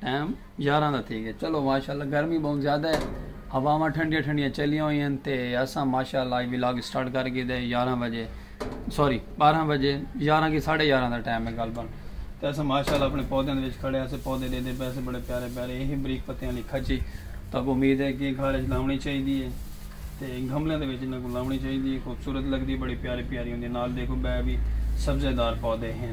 Time یارھاں دا تھی ڳئے چلو ماشاءاللہ گرمی ٻہوں زیادہ ہے ہواواں ٹھنڈیاں ٹھنڈیاں چلیاں ہوئیں ہن تے اساں ماشاءاللہ اج ولاگ اسٹارٹ کر گھیدا ہے یارھاں بجے سوری ٻارھاں بجے یارھاں کی ساڑھے یارھاں دا ٹائم ہے غالبا تے اساں ماشاءاللہ اپنے پودیاں دے وچ کھڑے اسے پودے ݙیندے پئے سے بڑے پیارے پیارے اے ہیں بریک پتیاں والی کھچی تاکو امید ہے کہ گھر وچ لاونی چاہیدی ہے تے گھملے دے وچ انہاں کو لاونی چاہیدی ہے خوبصورت لگدی بڑی پیاری پیاری ہوندی نال دیکھو بے بھی سبزے دار پودے ہیں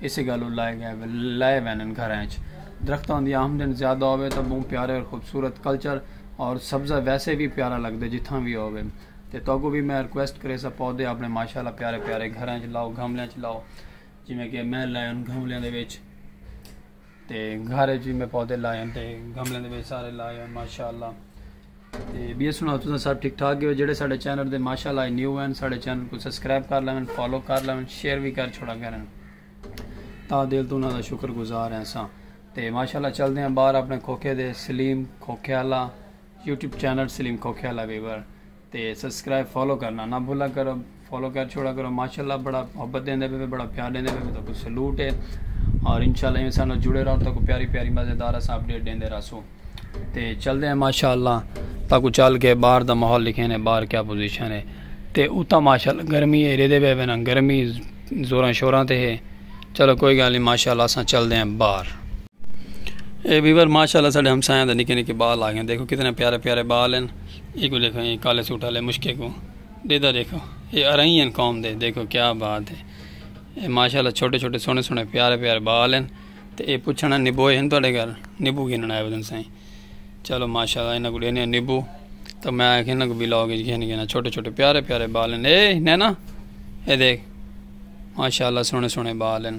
اسے گالوں لائے گئے لائے وینن گھراں اچ درختاں دی آمدن زیادہ ہووے تاں بہوں پیارے اور خوبصورت کلچر اور سبزہ ویسے وی پیارا لگدے جتھاں وی ہووے تے تہاکوں وی میں ریکویسٹ کریساں پودے اپنے ماشاءاللہ پیارے پیارے گھراں اچ لاؤ گملیاں اچ لاؤ جیویں کہ میں لائے ان گملیاں دے وچ تے گھر اچ وی میں پودے لائے ہن تے گملے دے وچ سارے لائے ہن ماشاءاللہ تے بیا سناؤ تساں سب ٹھیک ٹھاک ہو جڑے ساڈے چینل تے ماشاءاللہ نیو ہن ساڈے چینل کو سبسکرائب کر لیون فالو کر لیون شیئر وی کر چھوڑا کرن تا دل تو انہاں دا شکر گزار ہیں اساں تے ماشاءاللہ چل دے ہیں باہر اپنے کھوکھے دے سلیم کھوکھے والا یوٹیوب چینل سلیم کھوکھے والا ویور تے سبسکرائب فالو کرنا نہ بھولا کرو فالو کر چھوڑا کرو ماشاءاللہ بڑا محبت دیندے پہ بڑا پیار دیندے پہ تو کو سلوٹ ہے اور انشاءاللہ ایویں سانو جڑے رہو تو کو پیاری پیاری مزیدار اساں اپڈیٹ دیندے رہسو تے چل دے ہیں ماشاءاللہ تا کو چل کے باہر دا ماحول لکھے نے باہر کیا پوزیشن ہے تے اوتا ماشاءاللہ گرمی ہے ریدے پہ نا گرمی زوراں شوراں تے ہے چلو کوئی گل نہیں ماشاءاللہ اساں چل دے ہیں باہر اے ویور ماشاءاللہ ساڈے ہمسایاں دے نکے نکے بال آگئے دیکھو کتنے پیارے پیارے بال ہیں اے کو دیکھو اے کالے سوٹ والے مشکے کو دیدا دیکھو اے ارئی ہیں قوم دے دیکھو کیا بات ہے اے ماشاءاللہ چھوٹے چھوٹے سونے سونے پیارے پیارے بال ہیں تے اے پوچھنا نبوئے ہیں تواڈے گھر نبو گھنن آئے ودن سائیں چلو ماشاءاللہ انہاں کو دینے نبو تو میں آکھے انہاں کو بھی لاؤ گے گھن گھن چھوٹے چھوٹے پیارے پیارے بال ہیں اے نینا اے دیکھ ماشاءاللہ سونے سونے بال ہیں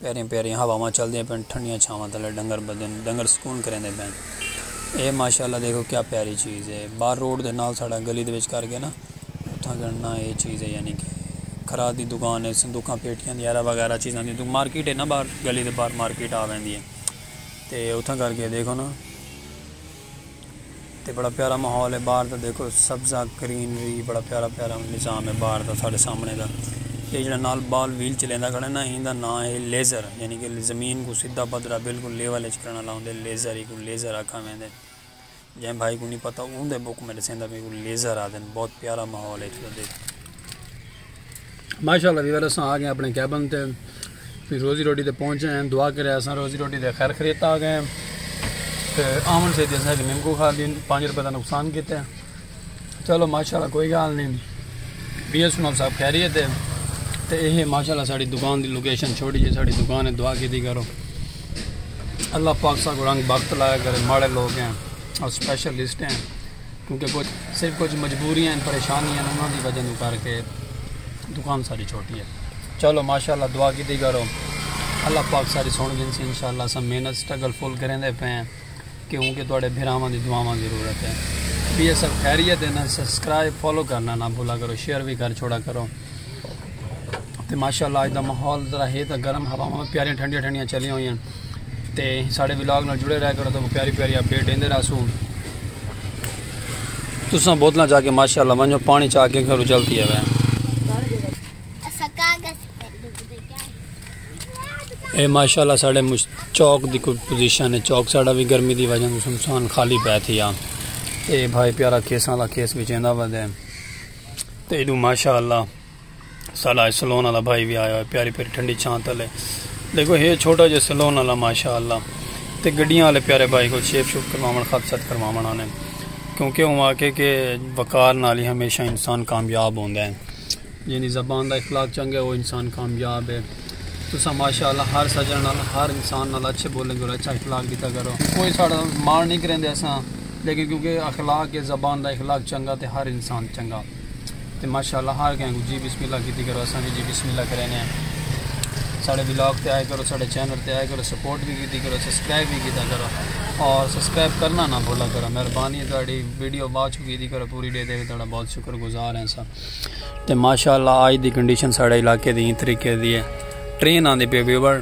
پیاریاں پیاریاں ہواواں چلدیاں پن ٹھنڈیاں چھاواں تلے ڈنگر بدھن ڈنگر سکون کریندے پن اے ماشاءاللہ دیکھو کیا پیاری چیز ہے بار روڈ دے نال ساڑا گلی دے وچ کر کے نا اتھاں گننا اے چیز ہے یعنی کہ کھرا دی دکان ہے صندوقاں پیٹیاں دی ایرہ وغیرہ چیزاں دی مارکیٹ ہے نا بار گلی دے بار مارکیٹ آ ویندی ہے تے اتھاں کر کے دیکھو نا تے بڑا پیارا ماحول ہے باہر دا دیکھو سبزہ گرینری بڑا پیارا پیارا نظام ہے باہر دا ساڑھے سامنے دا یہ جڑا نال بال ویل چلیندا کھڑا نا ہیندا نا ہے لیزر یعنی کہ زمین کو سدھا پدھرا بالکل لیول اچ کرنا لاؤندے لیزر ہی کو لیزر آکھا میں دے جائیں بھائی کو نہیں پتا اوندے بک میں دسیندا میں کو لیزر آدن بہت پیارا ماحول ہے اتھے دا دیکھو۔ ماشاءاللہ ویور اساں آ گئے اپنے کیبن تے پھر روزی روٹی تے پہنچے ہیں دعا کرے اساں روزی روٹی دے خیر خریت آ گئے ہیں تے آمن سے دیسا کہ نمکو کھا دین پانچ روپے دا نقصان کیتے ہیں چلو ماشاءاللہ کوئی گال نہیں بی ایس ماب صاحب خیریت ہے تے یہ ماشاءاللہ ساڑی دکان دی لوکیشن چھوڑی جی ساڑی دکان ہے دعا کی دی کرو اللہ پاک سا کو رنگ بخت لایا کرے ماڑے لوگ ہیں اور سپیشلسٹ ہیں کیونکہ کجھ صرف کجھ مجبوریاں ہن پریشانی ہن انہاں دی وجہ توں کر کے دکان ساڈی چھوٹی ہے چلو ماشاءاللہ دعا کیتی کرو اللہ پاک ساری سن گھنسی انشاءاللہ اساں محنت سٹرگل فل کریندے پے ہیں کیونکہ تواڈے بھراواں دی دعاواں ضرورت ہے بی ایس ایف خیریت ہے نا سبسکرائب فالو کرنا نہ بھولا کرو شیئر بھی کر چھوڑا کرو تے ماشاءاللہ اج دا ماحول ذرا ہے تے گرم ہواواں پیاریاں ٹھنڈیاں ٹھنڈیاں چلیاں ہوئی ہیں تے ساڑے ولاگ نال جڑے رہ کرو تو پیاری پیاری اپڈیٹ دیندے رہسو تساں بوتلاں چا کے ماشاءاللہ ونجو پانی چا کے گھرو چلتی ہے اے ماشاءاللہ ساڑے چوک دی کوئی پوزیشن ہے چوک ساڑا بھی گرمی دی وجہ سے انسان خالی پہ تھی آ اے بھائی پیارا کیساں دا کیس بچیندا ودے تے ایڈو ماشاءاللہ ساڈا اج سلون والا بھائی وی آیا ہوئے پیاری پیاری ٹھنڈی چھاں تلے دیکھو ہے چھوٹا جے سلون والا ماشاءاللہ تے گڈیاں والے پیارے بھائی کو شیپ شوپ کرواون خط ست کرواون آنے کیونکہ ہوں آکھے کہ وقار نال ہی ہمیشہ انسان کامیاب ہوندا ہے یعنی زبان دا اخلاق چنگا ہے وہ انسان کامیاب ہے تسا ماشاءاللہ ہر سجن نال ہر انسان نال اچھے بولیں گے اور اچھا اخلاق دیتا کرو کوئی ساڑا مار نہیں کریندے اساں لیکن کیونکہ اخلاق ہے زبان دا اخلاق چنگا تے ہر انسان چنگا تے ماشاءاللہ ہر کہیں کو جی بسم اللہ کیتی کرو اساں بھی جی بسم اللہ کرینے ہیں ساڑے ولاگ تے آئے کرو ساڑے چینل تے آئے کرو سپورٹ بھی کیتی کرو سبسکرائب بھی کیتا کرو اور سبسکرائب کرنا نہ بھولا کرو مہربانی تہاڈی ویڈیو بعد چ کیتی کرو پوری ڈے دے تہاڈا بہت شکر گزار ہیں سا تے ماشاءاللہ آج دی کنڈیشن ساڑے علاقے دی طریقے دی ہے ٹرین آندی پی ویور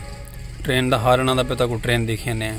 ٹرین دا ہارن آندا پہ تاکو ٹرین دیکھینے ہیں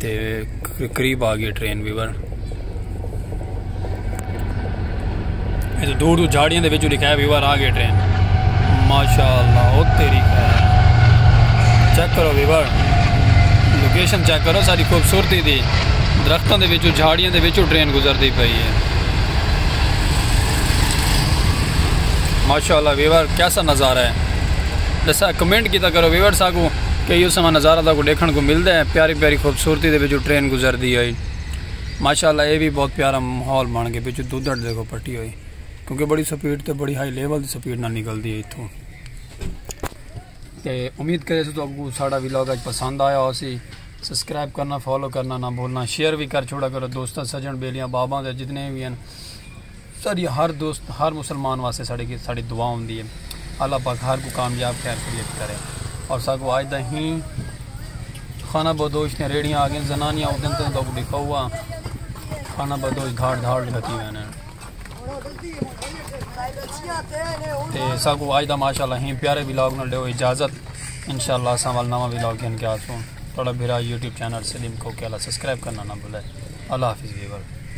تے قریب آ گئی ٹرین بھی بر دور دور جھاڑیاں دے وچوں لکھایا ویور آ گئی ٹرین ماشاءاللہ او تیری خیر چیک کرو ویور لوکیشن چیک کرو ساری خوبصورتی دی درختوں دے وچوں جھاڑیاں دے وچوں ٹرین گزردی پئی ہے ماشاءاللہ ویور کیسا نظارہ ہے جیسا کمنٹ کیتا کرو ویور ساگو کئی اس سماں نظارہ تاکو ڈیکھن کو ملدا ہے پیاری پیاری خوبصورتی دے وچو ٹرین گزردی ہوئی ماشاءاللہ اے وی بہت پیارا ماحول بن گئے وچو دودھڑ دیکھو پٹی ہوئی کیونکہ بڑی سپیڈ تے بڑی ہائی لیول دی سپیڈ نال نکلدی ہے ایتھوں تے امید کرے سو تو آپ کو ساڑا ویلاگ اج پسند آیا ہو سی سبسکرائب کرنا فالو کرنا نہ بھولنا شیئر بھی کر چھوڑا کرو دوستاں سجن بیلیاں باباں دے جتنے بھی ہیں ساڈی ہر دوست ہر مسلمان واسطے ساڈے گیت ساڈی دعا ہوندی ہے اللہ پاک ہر کو کامیاب خیر خیریت کرے اور ساگو آج دا ہی خانہ بدوش نے ریڑیاں آگے زنانیاں او دن تن کو دکھا ہوا خانہ بدوش دھاڑ دھاڑ لگتی ہوئے نے تے ساگو آج دا ماشاءاللہ ہی پیارے ویلاگ نال دیو اجازت انشاءاللہ اساں وال نواں ویلاگ گھن کے آسوں تھوڑا بھرا یوٹیوب چینل سلیم کو کے اللہ سبسکرائب کرنا نہ بھولے اللہ حافظ ویور